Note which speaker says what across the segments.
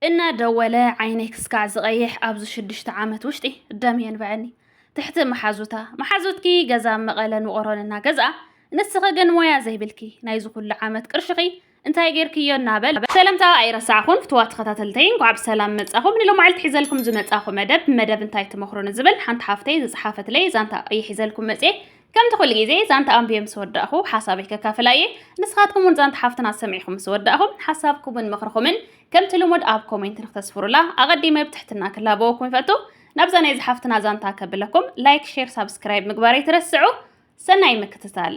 Speaker 1: እናደወለ ዓይነይ ክስካዕ ዝቐይሕ ኣብዚ ሽዱሽተ ዓመት ውሽጢ ደም የንበዐኒ ትሕቲ መሓዙታ መሓዙትኪ ገዛ ኣብ መቐለን ውቕሮን እናገዝኣ ንስኺ ግን ሞያ ዘይብልኪ ናይዚ ኩሉ ዓመት ቅርሽኺ እንታይ ጌርክዮ እናበለ ሰለምታ ኣይረሳዕኹን ፍትዋ ተኸታተልተይ እንኳዕ ብሰላም መጻኹም ንሎማዓልቲ ሒዘልኩም ዝመጻኹ መደብ መደብ እንታይ ትመኽሩኒ ዝብል ሓንቲ ሓፍተይ ዝጽሓፈትለይ ዛንታ እየ ሒዘልኩም መጽየ ከምቲ ኩሉ ግዜ ዛንታ ኣንብየ ምስ ወዳእኹ ሓሳበይ ከካፍል ኣየ። ንስኻትኩም እውን ዛንታ ሓፍትና ሰሚዕኹም ምስ ወዳእኹም ሓሳብኩምን ምኽርኹምን ከምቲ ልሙድ ኣብ ኮሜንት ንክተስፍሩላ ኣቐዲመ ብትሕትና ክላበወኩም ይፈቱ። ናብዛ ናይዚ ሓፍትና ዛንታ ከብለኩም ላይክ ሼር ሳብስክራይብ ምግባር ኣይትረስዑ። ሰናይ ምክትታል።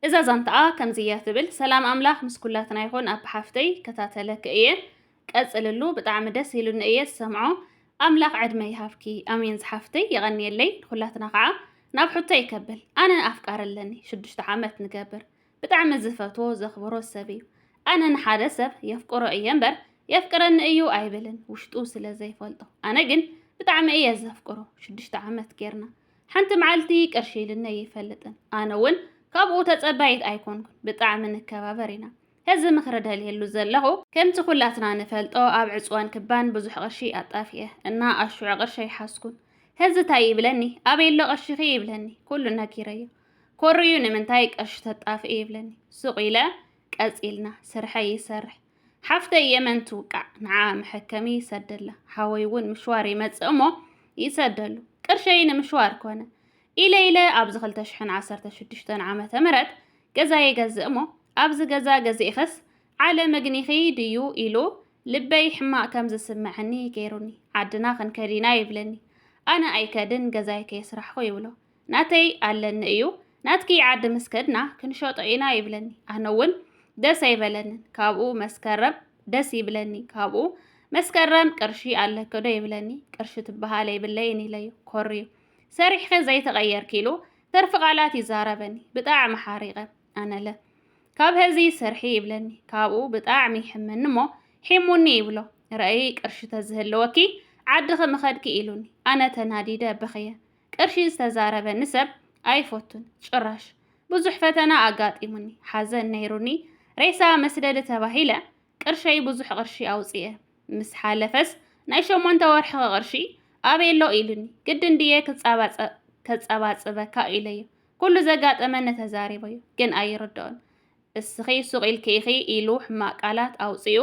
Speaker 1: እዛ ዛንታኣ ከምዚ እያ ትብል። ሰላም ኣምላኽ ምስ ኩላትና ይኹን ኣቢ ሓፍተይ ይከታተለኪ እየ ቀፅልሉ ብጣዕሚ ደስ ኢሉኒ እየ ዝሰምዖ ኣምላኽ ዕድመ ይሃብኪ። ኣሜን ዝሓፍተይ የቐንየለይ ንኹላትና ከዓ ናብ ሕቶይ ከብል ኣነ ኣፍቃሪ ኣለኒ ሽዱሽተ ዓመት ንገብር ብጣዕሚ ዝፈትዎ ዘኽብሮ ሰብ እዩ ኣነ ንሓደ ሰብ የፍቅሮ እየ እምበር የፍቅረኒ እዩ ኣይብልን ውሽጡ ስለ ዘይፈልጦ ኣነ ግን ብጣዕሚ እየ ዘፍቅሮ ሽዱሽተ ዓመት ጌርና ሓንቲ መዓልቲ ቅርሺ ኢልኒ ይፈልጥን ኣነ እውን ካብኡ ተፀባይት ኣይኮንኩን ብጣዕሚ ንከባበር ኢና ሕዚ ምኽሪ ደልየሉ ዘለኹ። ከምቲ ኩላትና ንፈልጦ ኣብ ዕጽዋን ክባን ብዙሕ ቅርሺ ኣጣፊኤ እና ኣሹዐ ቅርሺ ኣይሓዝኩን። ሕዚ ታይ ይብለኒ ኣበይ ኣሎ ቅርሺኺ ይብለኒ ኩሉ ነጊረዮ ኮርዩ ንምንታይ ቅርሺ ተጣፍኢ ይብለኒ ሱቕ ኢለ ቀጺልና ስርሐይ ይሰርሕ ሓፍተይ የመን ትውቃዕ ንዓኣ መሐከሚ ይሰደላ ሓወይ እውን ምሽዋር ይመጽእ እሞ ይሰደሉ ቅርሸይ ንምሽዋር ኮነ ኢለ ኢለ ኣብዚ ክልተ ሽሕን ዓሰርተ ሽዱሽተን ዓመተ ምህረት ገዛ የገዝእ እሞ ኣብዚ ገዛ ገዚእኽስ ዓለ መግኒኺ ድዩ ኢሉ ልበይ ሕማቕ ከም ዝስመዐኒ ገይሩኒ ዓድና ክንከድ ኢና ይብለኒ ኣነ ኣይከድን ገዛይ ከየስራሕኹ ይብሎ ናተይ ኣለኒ እዩ ናትኪ ዓዲ ምስ ከድና ክንሸጦ ኢና ይብለኒ ኣነ እውን ደስ ኣይበለንን ካብኡ መስከረም ደስ ይብለኒ ካብኡ መስከረም ቅርሺ ኣለክዶ ይብለኒ ቅርሺ ትበሃል ኣይብለይን ኢለዩ ኮርዩ ሰሪሕኺ ዘይተቐየርኪ ኢሉ ትርፊ ቃላት ይዛረበኒ ብጣዕሚ ሓሪቐ ኣነለ ካብ ሀዚ ስርሒ ይብለኒ ካብኡ ብጣዕሚ ይሕመኒ እሞ ሒሙኒ ይብሎ ረእይ ቅርሺ ተዝህልወኪ ዓድኺ ምኸድኪ ኢሉኒ ኣነ ተናዲደ በኽየ ቅርሺ ዝተዛረበኒ ሰብ ኣይፈቱን ጭራሽ ብዙሕ ፈተና ኣጋጢሙኒ ሓዘን ነይሩኒ ሬሳ መስደዲ ተባሂለ ቅርሸይ ብዙሕ ቅርሺ ኣውጺኤ ምስ ሓለፈስ ናይ ሸሞንተ ወርሕኺ ቅርሺ ኣበይ ኣሎ ኢሉኒ። ግድን ድየ ከጸባጽበካ ኢለዮ ኩሉ ዘጋጠመኒ ተዛሪበዮ። ግን ኣይርድኦን። እስኺ ሱቕ ኢልኪ ኢኺ ኢሉ ሕማቕ ቃላት ኣውጺኡ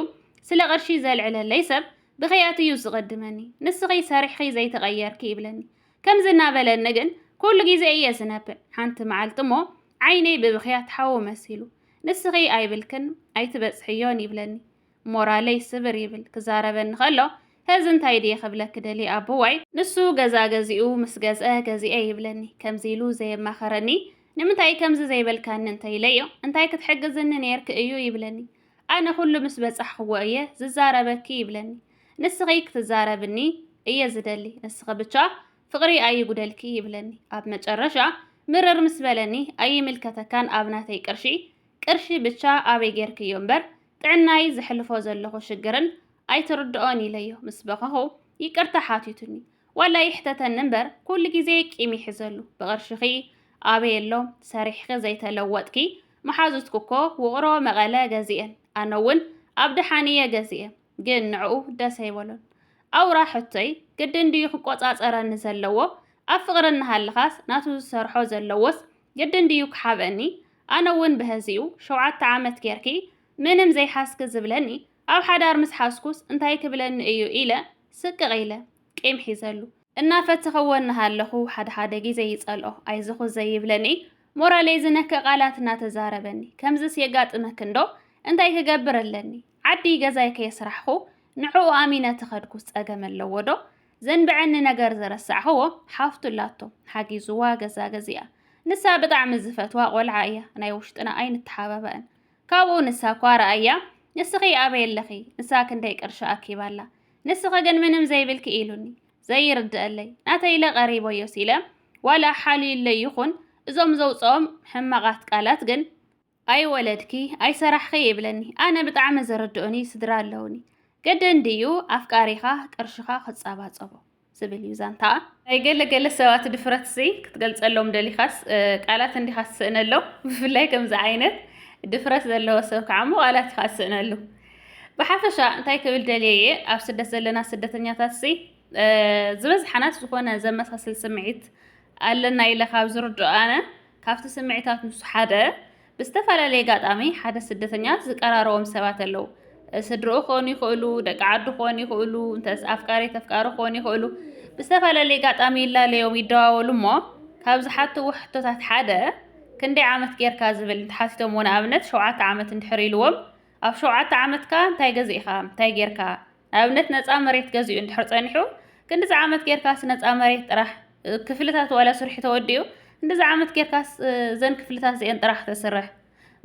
Speaker 1: ስለ ቅርሺ ዘልዕለለይ ሰብ ብኽያት እዩ ዝቕድመኒ። ንስኺ ሰሪሕኺ ዘይተቐየርኪ ይብለኒ። ከምዚ እናበለኒ ግን ኩሉ ግዜ እየ ዝነብዕ። ሓንቲ መዓልቲ እሞ ዓይነይ ብብኽያት ሓዊ መሲሉ ንስኺ ኣይብልክን ኣይትበጽሕዮን ይብለኒ ሞራለይ ስብር ይብል ክዛረበኒ ከሎ ሀዚ እንታይ ድየ ክብለኪ ደልየ ኣቦዋይ ንሱ ገዛ ገዚኡ ምስ ገዝአ ገዚኤ ይብለኒ ከምዚ ኢሉ ዘየማኸረኒ ንምንታይ ከምዚ ዘይበልካኒ እንተኢለዮ እንታይ ክትሕግዝኒ ኔርኪ እዩ ይብለኒ ኣነ ኩሉ ምስ በጻሕክዎ እየ ዝዛረበኪ ይብለኒ ንስኺ ክትዛረብኒ እየ ዝደሊ ንስኺ ብቻ ፍቕሪ ኣይጉደልኪ ይብለኒ ኣብ መጨረሻ ምርር ምስ በለኒ ኣይምልከተካን ኣብ ናተይ ቅርሺ ቅርሺ ብቻ ኣበይ ጌርክዮ እምበር ጥዕናይ ዘሕልፎ ዘለኹ ሽግርን ኣይትርድኦን ኢለዮ ምስ በኸኹ ይቅርታ ሓቲቱኒ ዋላ ይሕተተኒ እምበር ኩሉ ግዜ ቂም ይሕዘሉ ብቕርሽኺ ኣበይ ኣሎ ሰሪሕኺ ዘይተለወጥኪ መሓዙትኩ እኮ ውቕሮ መቐለ ገዚኤን ኣነውን ኣብ ደሓን እየ ገዚኤ ግን ንዕኡ ደስ ኣይበሎን። ኣውራ ሕቶይ ግድን ድዩ ክቆጻጸረኒ ዘለዎ ኣብ ፍቅሪ እናሃለኻስ ናቱ ዝሰርሖ ዘለዎስ ግድን ድዩ ክሓብእኒ ኣነ ውን ብሀዚኡ ሸውዓተ ዓመት ጌርኪ ምንም ዘይሓዝኪ ዝብለኒ ኣብ ሓዳር ምስ ሓዝኩስ እንታይ ክብለኒ እዩ ኢለ ስቅቅ ኢለ ቂም ሒዘሉ እናፈተኽዎ እናሃለኹ ሓደ ሓደ ግዜ ይጸልኦ ኣይዞኹ ዘይብለኒ ሞራለይ ዝነክእ ቃላት እናተዛረበኒ ከምዝስ የጋጥመኪ እንዶ እንታይ ክገብር ኣለኒ። ዓዲ ገዛይ ከየስራሕኹ ንዕኡ ኣሚነ ተኸድኩስ ጸገም ኣለዎ ዶ? ዘንበዐኒ ነገር ዘረሳዕኽዎ ሓፍቱ ኣላቶ ሓጊዝዋ ገዛ ገዚኣ ንሳ ብጣዕሚ ዝፈትዋ ቆልዓ እያ ናይ ውሽጥና ኣይንተሓባባእን ካብኡ ንሳ እኳ ረኣያ ንስኺ ኣበይ ኣለኺ ንሳ ክንደይ ቅርሺ ኣኪባ ኣላ ንስኺ ግን ምንም ዘይብልኪ ኢሉኒ ዘይርድኣለይ ናተይ ኢለ ቀሪበዮስ ኢለ ዋላ ሓልዩለይ ይኹን እዞም ዘውጽኦም ሕማቓት ቃላት ግን ኣይወለድኪ ኣይሰራሕኺ ይብለኒ ኣነ ብጣዕሚ ዝርድኡኒ ስድራ ኣለውኒ ገደን ድዩ ኣፍቃሪኻ ቅርሽኻ ክጻባጸቦ ዝብል እዩ ዛንታኣ ናይ ገለ ገለ ሰባት ድፍረትሲ ክትገልጸሎም ደሊኻስ ቃላት እንዲኻ ትስእነሎም ብፍላይ ከምዚ ዓይነት ድፍረት ዘለዎ ሰብ ከዓ እሞ ቃላት ኢኻ ትስእነሉ ብሓፈሻ እንታይ ክብል ደልየ እየ ኣብ ስደት ዘለና ስደተኛታትሲ ዝበዝሓናስ ዝኾነ ዘመሳስል ስምዒት ኣለና ኢለ ካብ ዝርድኦ ኣነ ካብቲ ስምዒታት ንሱ ሓደ ብዝተፈላለየ ኣጋጣሚ ሓደ ስደተኛ ዝቀራረቦም ሰባት ኣለዉ። ስድርኡ ክኾኑ ይኽእሉ፣ ደቂ ዓዱ ክኾኑ ይኽእሉ፣ እንተስ ኣፍቃሪ ተፍቃሪ ክኾኑ ይኽእሉ። ብዝተፈላለየ ኣጋጣሚ ይላለዮም ይደዋወሉ እሞ ካብ ዝሓትዎ ሕቶታት ሓደ ክንደይ ዓመት ጌርካ ዝብል እንተሓቲቶምዎ ንኣብነት ሸውዓተ ዓመት እንድሕር ኢልዎም ኣብ ሸውዓተ ዓመትካ እንታይ ገዚእኻ እንታይ ጌርካ ንኣብነት ነፃ መሬት ገዚኡ እንድሕር ጸኒሑ ክንዲዚ ዓመት ጌርካስ ነፃ መሬት ጥራሕ ክፍልታት ዋላ ስርሑ ተወዲኡ እንድዚ ዓመት ጌርካስ ዘን ክፍልታት እዚአን ጥራሕ ተስርሕ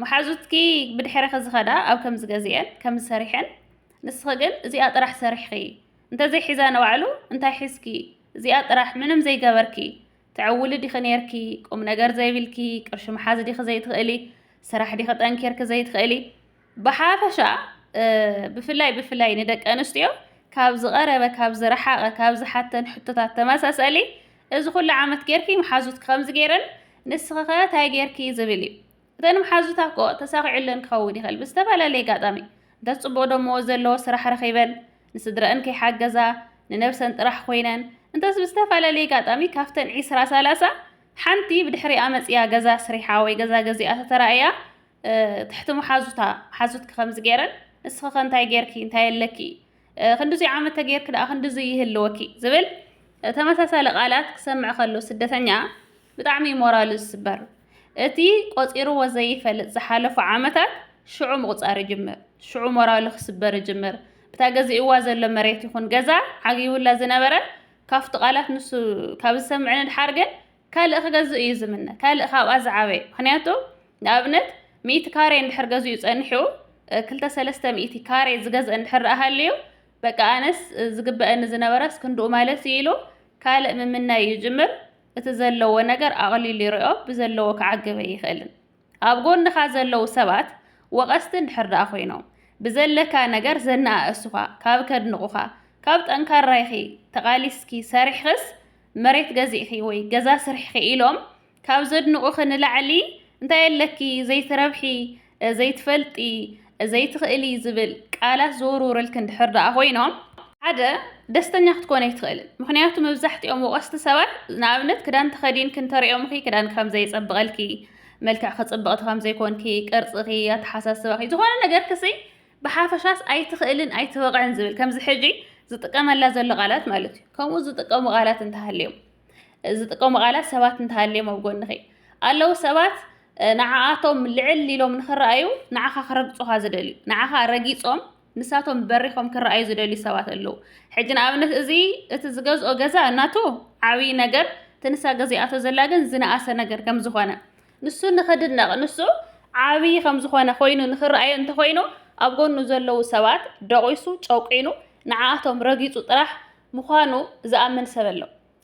Speaker 1: መሓዙትኪ ብድሕረኺ ዝኸዳ ኣብ ከምዚ ገዚአን ከምዚ ሰሪሐን ንስኺ ግን እዚኣ ጥራሕ ሰሪሕኺ እንተዘይ ሒዛ ንባዕሉ እንታይ ሒዝኪ እዚኣ ጥራሕ ምንም ዘይገበርኪ ተዕውሊ ዲኺ ነርኪ ቁም ነገር ዘይብልኪ ቅርሺ መሓዝ ዲኺ ዘይትኽእሊ ስራሕ ዲኺ ጠንኪርኪ ዘይትኽእሊ ብሓፈሻ ብፍላይ ብፍላይ ንደቂ ኣንስትዮ ካብ ዝቐረበ ካብ ዝረሓቐ ካብ ዝሓተን ሕቶታት ተመሳሰሊ እዚ ኩሉ ዓመት ጌርኪ መሓዙት ከምዚ ጌረን ንስኺ ከ ታይ ጌርኪ ዝብል እዩ እተን መሓዙታ እኮ ተሳኺዑለን ክኸውን ይኽእል ብዝተፈላለየ ኣጋጣሚ እንተ ፅቡቕ ደመወዝ ዘለዎ ስራሕ ረኺበን ንስድረአን ከይሓገዛ ንነብሰን ጥራሕ ኮይነን እንተስ ብዝተፈላለየ ኣጋጣሚ ካብተን ዒስራ ሰላሳ ሓንቲ ብድሕሪኣ መፅያ ገዛ ስሪሓ ወይ ገዛ ገዚኣ ተተራእያ ትሕቲ መሓዙታ ሓዙትኪ ከምዚ ገይረን ንስኺ ከ እንታይ ጌርኪ እንታይ ኣለኪ ክንዲዙይ ዓመት ተጌርኪ ደኣ ክንዲዙይ ይህልወኪ ዝብል ተመሳሳሊ ቃላት ክሰምዕ ከሎ ስደተኛ ብጣዕሚ እዩ ሞራሉ ዝስበር። እቲ ቆፂርዎ ዘይፈልጥ ዝሓለፉ ዓመታት ሽዑ ምቑፃር ይጅምር፣ ሽዑ ሞራሉ ክስበር ይጅምር። እታ ገዚእዋ ዘሎ መሬት ይኹን ገዛ ዓጊቡላ ዝነበረ ካብቲ ቃላት ንሱ ካብ ዝሰምዕ ንድሓር ግን ካልእ ክገዝእ እዩ ዝምነ ካልእ ካብኣ ዝዓበየ ምክንያቱ ንኣብነት ሚእቲ ካሬ እንድሕር ገዚኡ ጸኒሑ ክልተ ሰለስተ ሚእቲ ካሬ ዝገዝእ እንድሕር ደኣ ሃልዩ በቃ ኣነስ ዝግበአኒ ዝነበረስ ክንድኡ ማለት እዩ ኢሉ ካልእ ምምናይ ይጅምር እቲ ዘለዎ ነገር ኣቕሊሉ ይሪኦ ብዘለዎ ክዓግበ ኣይኽእልን ኣብ ጎንኻ ዘለዉ ሰባት ወቐስቲ እንድሕር ደኣ ኮይኖም፣ ብዘለካ ነገር ዘነኣእሱኻ፣ ካብ ከድንቑኻ፣ ካብ ጠንካራ ኢኺ፣ ተቓሊስኪ፣ ሰሪሕኽስ መሬት ገዚእኺ ወይ ገዛ ስርሕኺ ኢሎም ካብ ዘድንቑኺ ንላዕሊ እንታይ ኣለኪ ዘይትረብሒ፣ ዘይትፈልጢ፣ ዘይትኽእሊ ዝብል ቃላት ዝውርውርልክን ድሕር ደኣ ኮይኖም ሓደ ደስተኛ ክትኮን ኣይትኽእልን ምክንያቱ መብዛሕትኦም ወቀስቲ ሰባት ንኣብነት ክዳን ተኸዲን ክንተሪኦምኺ ክዳን ከም ዘይጸብቐልኪ መልክዕ ክጽብቕቲ ከም ዘይኮንኪ ቅርጽኺ ኣተሓሳስባኺ ዝኾነ ነገር ክሲ ብሓፈሻስ ኣይትኽእልን ኣይትበቕዕን ዝብል ከምዚ ሕጂ ዝጥቀመላ ዘሎ ቃላት ማለት እዩ ከምኡ ዝጥቀሙ ቃላት እንተሃልዮም ዝጥቀሙ ቃላት ሰባት እንተሃልዮም ኣብ ጎንኺ ኣለዉ ሰባት ንዓኣቶም ልዕል ኢሎም ንኽረኣዩ ንዓኻ ክረግፁኻ ዝደልዩ ንዓኻ ረጊፆም ንሳቶም በሪኾም ክረኣዩ ዝደልዩ ሰባት ኣለዉ ሕጂ ንኣብነት እዚ እቲ ዝገዝኦ ገዛ እናቱ ዓብዪ ነገር እቲ ንሳ ገዚኣቶ ዘላ ግን ዝነኣሰ ነገር ከም ዝኾነ ንሱ ንኽድነቕ ንሱ ዓብዪ ከም ዝኾነ ኮይኑ ንኽረኣዩ እንተኾይኑ ኣብ ጎኑ ዘለዉ ሰባት ደቂሱ ጨቂኑ ንዓኣቶም ረጊፁ ጥራሕ ምዃኑ ዝኣምን ሰብ ኣሎ።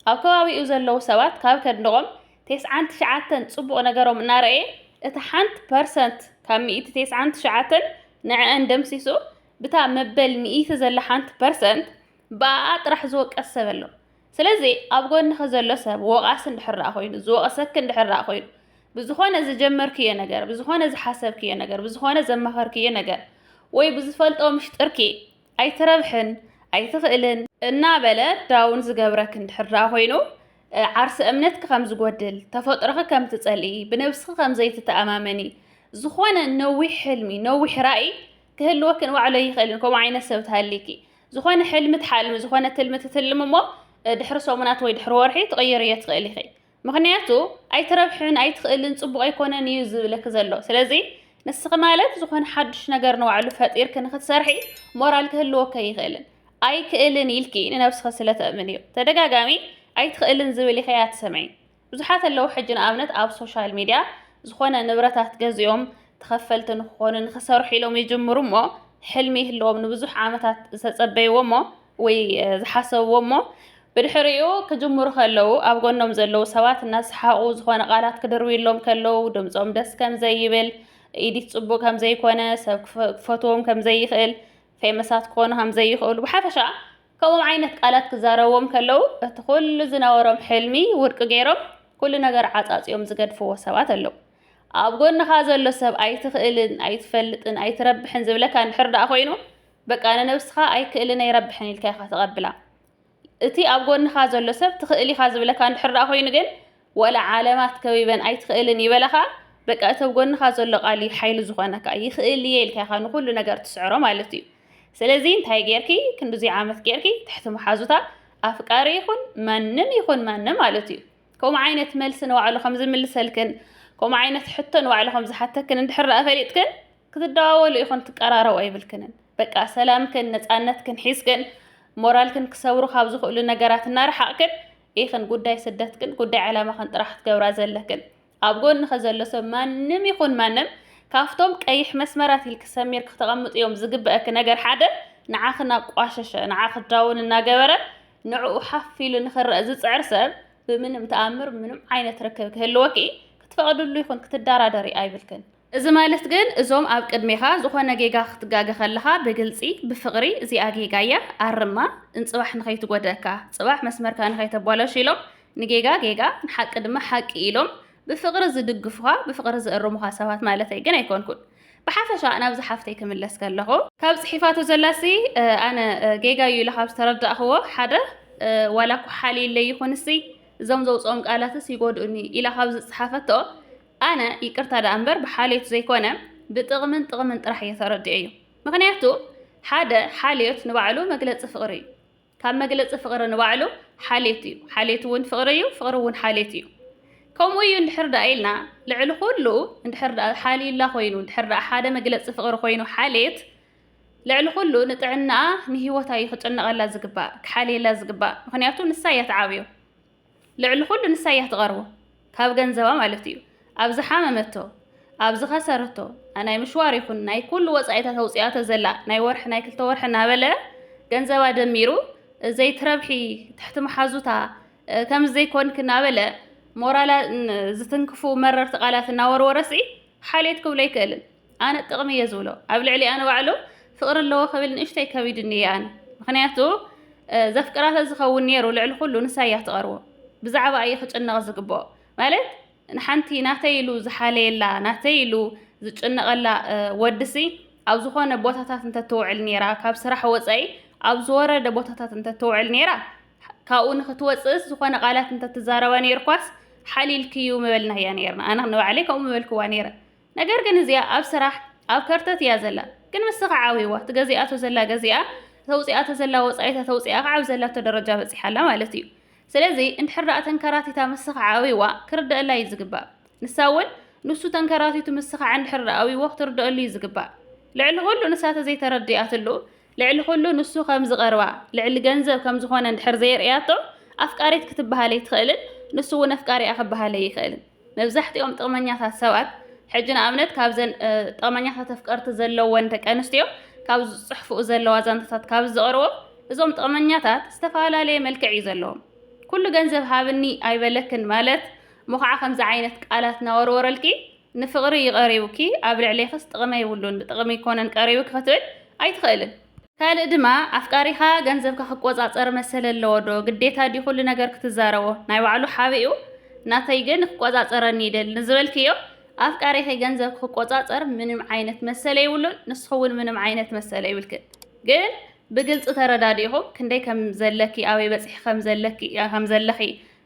Speaker 1: ኣብ ከባቢኡ ዘለዉ ሰባት ካብ ከንድቆም ቴስዓን ትሽዓተን ጽቡቕ ነገሮም እናረእየ እታ ሓንቲ ፐርሰንት ካብ ሚእቲ ቴስዓን ትሽዓተን ንዕኣን ደምሲሱ ብታ መበል ሚእቲ ዘላ ሓንቲ ፐርሰንት ብኣኣ ጥራሕ ዝወቀስ ሰብ ኣሎ። ስለዚ ኣብ ጎንኺ ዘሎ ሰብ ወቓሲ እንድሕር ደኣ ኮይኑ ዝወቕሰኪ እንድሕር ደኣ ኮይኑ ብዝኾነ ዝጀመርክዮ ነገር ብዝኾነ ዝሓሰብክዮ ነገር ብዝኾነ ዘማኸርክዮ ነገር ወይ ብዝፈልጦ ምሽጥርኪ ኣይትረብሕን፣ ኣይትኽእልን እናበለ ዳውን ዝገብረክ እንድሕር ደኣ ኮይኑ ዓርሰ እምነትኪ ከም ዝጎድል፣ ተፈጥሮኺ ከም ትጸልኢ፣ ብነብስኺ ከም ዘይትተኣማመኒ፣ ዝኾነ ነዊሕ ሕልሚ፣ ነዊሕ ራእይ ክህልወኪ ንባዕሉ ኣይኽእልን። ከምኡ ዓይነት ሰብ ትሃሊኪ ዝኾነ ሕልሚ ትሓልሚ፣ ዝኾነ ትልሚ ትትልሚ እሞ ድሕሪ ሰሙናት ወይ ድሕሪ ወርሒ ትቕይርዮ ትኽእሊ ኢኺ። ምኽንያቱ ኣይትረብሕን ኣይትኽእልን ጽቡቕ ኣይኮነን እዩ ዝብለኪ ዘሎ ስለዚ ንስኺ ማለት ዝኾነ ሓዱሽ ነገር ንባዕሉ ፈጢርኪ ንኽትሰርሒ ሞራል ክህልወከ ኣይኽእልን ኣይክእልን ኢልኪ ንነብስኺ ስለ ተእምን እዩ ተደጋጋሚ ኣይትኽእልን ዝብል ኢኺ ኣትሰምዒ ብዙሓት ኣለዉ ሕጂ ንኣብነት ኣብ ሶሻል ሚድያ ዝኾነ ንብረታት ገዚኦም ተኸፈልቲ ንክኾኑ ንክሰርሑ ኢሎም ይጅምሩ እሞ ሕልሚ ይህልዎም ንብዙሕ ዓመታት ዝተጸበይዎ እሞ ወይ ዝሓሰብዎ እሞ ብድሕሪኡ ክጅምሩ ከለዉ ኣብ ጎኖም ዘለዉ ሰባት እናሰሓቑ ዝኾነ ቃላት ክድርብዩሎም ከለዉ ድምፆም ደስ ከም ዘይብል ኢዲት ጽቡቅ ከም ዘይኮነ ሰብ ክፈትዎም ከም ዘይኽእል ፌመሳት ክኾኑ ከም ዘይኽእሉ ብሓፈሻ ከምኦም ዓይነት ቃላት ክዛረብዎም ከለዉ እቲ ኩሉ ዝነበሮም ሕልሚ ውድቂ ገይሮም ኩሉ ነገር ዓጻጽዮም ዝገድፍዎ ሰባት ኣለዉ ኣብ ጎንኻ ዘሎ ሰብ ኣይትኽእልን ኣይትፈልጥን ኣይትረብሕን ዝብለካ እንድሕር ደኣ ኮይኑ በቃ ንነብስኻ ኣይክእልን ኣይረብሕን ኢልካ ኢኻ ተቐብላ። እቲ ኣብ ጎንኻ ዘሎ ሰብ ትኽእል ኢኻ ዝብለካ እንድሕር ደኣ ኮይኑ ግን ወላ ዓለማት ከቢበን ኣይትኽእልን ይበላ ከኣ በቃ እቲ ኣብ ጎንኻ ዘሎ ቃል እዩ ሓይሊ ዝኾነካ ይኽእል እየ ኢልካ ኢኻ ንኹሉ ነገር ትስዕሮ ማለት እዩ። ስለዚ እንታይ ጌርኪ ክንድዙይ ዓመት ጌርኪ ትሕቲ መሓዙታ ኣፍቃሪ ይኹን ማንም ይኹን ማንም ማለት እዩ ከምኡ ዓይነት መልሲ ንባዕሉ ከም ዝምልሰልክን ከምኡ ዓይነት ሕቶ ንባዕሉ ከም ዝሓተክን እንድሕር ደኣ ፈሊጥክን ክትደዋወሉ ኢኹን ትቀራረቡ ኣይብልክንን በቃ ሰላምክን ነፃነትክን ሒዝክን ሞራልክን ክሰብሩ ካብ ዝኽእሉ ነገራት እናረሓቕክን ኢኽን ጉዳይ ስደትክን ጉዳይ ዕላማኽን ጥራሕ ክትገብራ ዘለክን ኣብ ጎንኸ ዘሎ ሰብ ማንም ይኹን ማንም ካብቶም ቀይሕ መስመራት ኢልክ ሰሚር ክተቐምጡ እዮም ዝግበአክ ነገር ሓደ ንዓኽ እናቋሸሸ ንዓኽ ዳውን እናገበረ ንዕኡ ሓፍ ኢሉ ንኽረአ ዝፅዕር ሰብ ብምንም ተኣምር ምንም ዓይነት ርክብ ክህልወኪ ክትፈቕድሉ ይኹን ክትደራደሪ ኣይብልክን እዚ ማለት ግን እዞም ኣብ ቅድሜኻ ዝኾነ ጌጋ ክትጋገ ከለኻ ብግልጺ ብፍቕሪ እዚኣ ጌጋ እያ ኣርማ እንጽባሕ ንኸይትጎድኣካ ጽባሕ መስመርካ ንኸይተባላሹ ኢሎም ንጌጋ ጌጋ ንሓቂ ድማ ሓቂ ኢሎም ብፍቕሪ ዝድግፉኻ ብፍቕሪ ዝእርሙኻ ሰባት ማለተይ ግን ኣይኮንኩን ብሓፈሻ ናብዚ ሓፍተይ ክምለስ ከለኹ ካብ ጽሒፋቶ ዘላሲ ኣነ ጌጋ እዩ ኢለ ካብ ዝተረዳእኽዎ ሓደ ዋላ ኩሓሊለይ ይኹንሲ እዞም ዘውጽኦም ቃላትስ ይጎድኡኒ ኢላ ካብ ዝጽሓፈቶ ኣነ ይቅርታ ደኣ እምበር ብሓልዮት ዘይኮነ ብጥቅምን ጥቅምን ጥራሕ እየ ተረዲኤዮ ምክንያቱ ሓደ ሓልዮት ንባዕሉ መግለፂ ፍቅሪ እዩ ካብ መግለፂ ፍቅሪ ንባዕሉ ሓልዮት እዩ ሓልዮት እውን ፍቅሪ እዩ ፍቅሪ እውን ሓልዮት እዩ ከምኡ እዩ እንድሕር ደኣ ኢልና ልዕሊ ኩሉ እንድሕር ደኣ ሓልዩላ ኮይኑ እንድሕር ደኣ ሓደ መግለፂ ፍቅሪ ኮይኑ ሓልየት ልዕሊ ኩሉ ንጥዕናኣ ንሂወታ እዩ ክጭነቐላ ዝግባእ ክሓልየላ ዝግባእ ምክንያቱ ንሳ እያ ትዓብዮ ልዕሊ ኩሉ ንሳ እያ ትቐርቦ ካብ ገንዘባ ማለት እዩ ኣብ ዝሓመመቶ ኣብ ዝኸሰረቶ ናይ ምሽዋር ይኹን ናይ ኩሉ ወጻኢታት ኣውጽኣቶ ዘላ ናይ ወርሒ ናይ ክልተ ወርሒ እናበለ ገንዘባ ደሚሩ እዘይ ትረብሒ ትሕቲ መሓዙታ ከምዚ ዘይኮንክ እናበለ ሞራላ ዝትንክፉ መረርቲ ቃላት እናወርወረሲ ሓልየት ክብሎ ኣይክእልን። ኣነ ጥቅሚ እየ ዝብሎ ኣብ ልዕሊኣ ንባዕሉ ፍቅሪ ኣለዎ ክብል ንእሽተይ ከቢድኒ እየ ኣነ ምክንያቱ ዘፍቅራ ተዝኸውን ነይሩ ልዕሊ ኩሉ ንሳ እያ ትቀርቦ ብዛዕባ እዩ ክጭነቅ ዝግብኦ ማለት ንሓንቲ ናተይ ኢሉ ዝሓለየላ ናተይ ኢሉ ዝጭነቀላ ወድሲ ኣብ ዝኾነ ቦታታት እንተትውዕል ነይራ ካብ ስራሕ ወፃኢ ኣብ ዝወረደ ቦታታት እንተትውዕል ነይራ ካብኡ ንክትወፅእስ ዝኾነ ቃላት እንተትዛረባ ነይርኳስ ሓሊልክዩ ምበልናያ ነይርና ኣነ ንባዕለይ ከምኡ ምበልክዋ ነይረ ነገር ግን እዚኣ ኣብ ስራሕ ኣብ ከርተት እያ ዘላ ግን ምስኻ ዓዊዋ ትገዚኣቶ ዘላ ገዚኣ ተውፂኣቶ ዘላ ወፃኢታ ተውፂኣ ከዓ ኣብ ዘላቶ ደረጃ በፂሓ ኣላ ማለት እዩ ስለዚ እንድሕር ደኣ ተንከራቲታ ምስኻ ዓዊዋ ክርደአላ እዩ ዝግባእ ንሳ እውን ንሱ ተንከራቲቱ ምስኻ እንድሕር ደኣ ኣዊዎ ክትርደአሉ እዩ ዝግባእ ልዕሊ ኩሉ ንሳ ተዘይተረዲኣትሉ ልዕሊ ኩሉ ንሱ ከም ዝቐርባ ልዕሊ ገንዘብ ከም ዝኾነ እንድሕር ዘየርእያቶ ኣፍቃሪት ክትበሃለይ ትኽእልን ንሱ እውን ኣፍቃሪኣ ክበሃለይ ይኽእልን መብዛሕትኦም ጥቕመኛታት ሰባት ሕጂ ንኣብነት ካብዘን ጥቕመኛታት ኣፍቀርቲ ዘለወን ደቂ ኣንስትዮ ካብ ዝጽሕፍኡ ዘለዋ ዛንታታት ካብ ዝቐርቦ እዞም ጥቕመኛታት ዝተፈላለየ መልክዕ እዩ ዘለዎም። ኩሉ ገንዘብ ሃብኒ ኣይበለክን ማለት እሞ ከዓ ከምዚ ዓይነት ቃላት ናወርወረልኪ ንፍቕሪ እዩ ቀሪቡኪ ኣብ ልዕሌኽስ ጥቕሚ የብሉን ብጥቕሚ ኣይኮነን ቀሪቡኪ ክትብል ኣይትኽእልን። ካልእ ድማ ኣፍቃሪኻ ገንዘብካ ክቆጻጸር መሰል ኣለዎ ዶ ግዴታ ድዩ ኩሉ ነገር ክትዛረቦ ናይ ባዕሉ ሓቢኡ ናተይ ግን ክቆጻጸረኒ ይደሊ ንዝበልክዮ ኣፍቃሪኺ ገንዘብኪ ክቆጻጸር ምንም ዓይነት መሰለ ይብሉን ንስኺ እውን ምንም ዓይነት መሰለ ይብልክን ግን ብግልጺ ተረዳዲኹም ክንደይ ከም ዘለኪ ኣበይ በጺሒ ከም ዘለኪ ከም ዘለኺ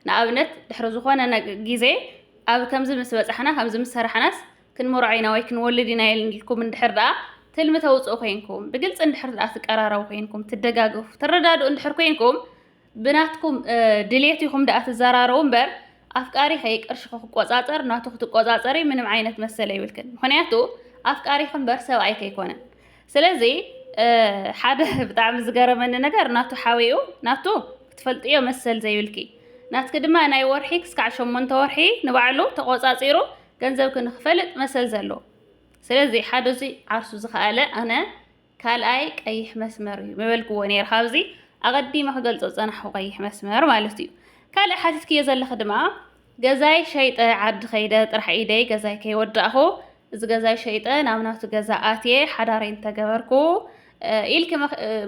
Speaker 1: ንኣብነት ድሕሪ ዝኾነ ግዜ ኣብ ከምዚ ምስ በጻሕና ከምዚ ምስ ሰራሕናስ ክንመርዖ ኢና ወይ ክንወልድ ኢና ኢልኩም እንድሕር ደኣ ትልሚ ተውፅኡ ኮይንኩም፣ ብግልፂ እንድሕር ደኣ ትቀራረቡ ኮይንኩም፣ ትደጋገፉ፣ ትረዳድኡ እንድሕር ኮይንኩም፣ ብናትኩም ድሌት ኢኹም ደኣ ትዘራረቡ እምበር ኣፍቃሪኸ ቅርሽኺ ክቆፃፀር ናቱ ክትቆፃፀሪ ምንም ዓይነት መሰል ኣይብልክን። ምክንያቱ ኣፍቃሪኺ እምበር ሰብኣይኪ ኣይኮነን። ስለዚ ሓደ ብጣዕሚ ዝገረመኒ ነገር ናቱ ሓዊኡ ናቱ ክትፈልጥዮ መሰል ዘይብልኪ ናትኪ ድማ ናይ ወርሒ ክስካዕ ሸሞንተ ወርሒ ንባዕሉ ተቆፃፂሩ ገንዘብ ክንክፈልጥ መሰል ዘለዎ ስለዚ ሓደ እዚ ዓርሱ ዝኸኣለ ኣነ ካልኣይ ቀይሕ መስመር እዩ ምበልክዎ ነይረ ካብዚ ኣቐዲመ ክገልጾ ዝጸናሕኩ ቀይሕ መስመር ማለት እዩ ካልእ ሓቲትክዮ ዘለኺ ድማ ገዛይ ሸይጠ ዓዲ ከይደ ጥራሕ ኢደይ ገዛይ ከይወዳእኹ እዚ ገዛይ ሸይጠ ናብ ናቱ ገዛ ኣትየ ሓዳረይ እንተገበርኩ ኢልኪ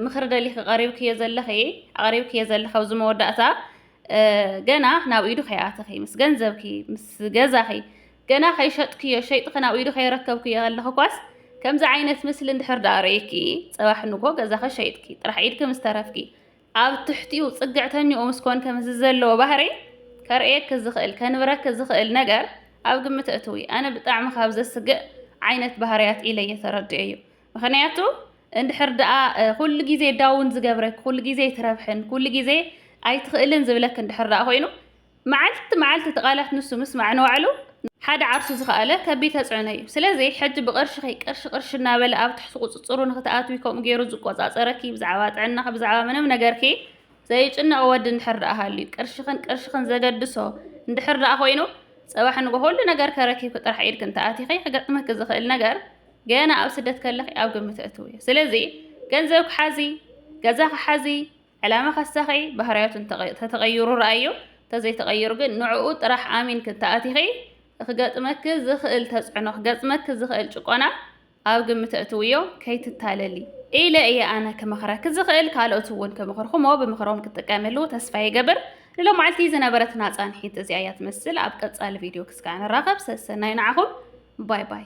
Speaker 1: ምኽሪ ደሊኺ ቀሪብክዮ ዘለኺ ኣቕሪብክዮ ዘለኺ ኣብዚ መወዳእታ ገና ናብ ኢዱ ከይኣተኺ፣ ምስ ገንዘብኪ፣ ምስ ገዛኺ ገና ከይሸጥክዮ፣ ሸይጥኺ ናብ ኢዱ ከይረከብክዮ ከለኽኳስ ከምዚ ዓይነት ምስሊ እንድሕር ደኣ ርእይኪ፣ ጽባሕ ንግሆ ገዛኺ ሸይጥኪ ጥራሕ ኢድኪ ምስ ተረፍኪ፣ ኣብ ትሕቲኡ ጽግዕተኛኡ ምስ ኮንኪ ከምዚ ዘለዎ ባህርይ ከርእየኪ ዝኽእል፣ ከንብረኪ ዝኽእል ነገር ኣብ ግምት ኣእትዊ። ኣነ ብጣዕሚ ካብ ዘስግእ ዓይነት ባህርያት ኢለ'የ ተረዲኤዮ። ምኽንያቱ፣ እንድሕር ደኣ ኩሉ ግዜ ዳውን ዝገብረክ፣ ኩሉ ግዜ ኣይትረብሕን፣ ኩሉ ግዜ ኣይትኽእልን ዝብለክ እንድሕር ደኣ ኮይኑ፣ መዓልቲ መዓልቲ እቲ ቃላት ንሱ ምስማዕ ንባዕሉ ሓደ ዓርሱ ዝኸኣለ ከቢድ ተጽዕኖ እዩ። ስለዚ ሕጂ ብቅርሽኺ ቅርሺ ቅርሺ እናበለ ኣብ ትሕቲ ቁጽጽሩ ንኽትኣትዊ ከምኡ ጌሩ ዝቆጻጸረኪ ብዛዕባ ጥዕናኺ ብዛዕባ ምንም ነገርኪ ዘይጭነቕ ወዲ እንድሕር ደኣ ሃልዩ፣ ቅርሽኽን ቅርሽኽን ዘገድሶ እንድሕር ደኣ ኮይኑ፣ ጽባሕ ንግሆ ኩሉ ነገር ከረኪብኪ ጥራሕ ኢድኪ እንተኣቲኺ ክገጥመኪ ዝኽእል ነገር፣ ገና ኣብ ስደት ከለኺ ኣብ ግምት ኣእትውዮ። ስለዚ ገንዘብኪ ሓዚ፣ ገዛኺ ሓዚ፣ ዕላማኺ ኣሳኺ፣ ባህርያቱ እንተተቐይሩ ረኣዮ፣ እንተዘይተቐይሩ ግን ንዕኡ ጥራሕ ኣሚንኪ እንተኣቲኺ ኽገጥመኪ ዝኽእል ተፅዕኖ፣ ክገጥመኪ ዝኽእል ጭቆና ኣብ ግምት ኣእትውዮ፣ ከይትታለሊ። ኢለ እየ ኣነ ክመኽረኪ ዝኽእል፣ ካልኦት እውን ክምኽርኹሞ ብምኽሮም ክትጥቀምሉ ተስፋ ይገብር። ንሎማዓልቲ ዝነበረትና ፃንሒት እዚኣ እያ ትመስል። ኣብ ቀፃሊ ቪድዮ ክስካዕ ንራኸብ። ሰሰናዩ ንዓኹም። ባይ ባይ።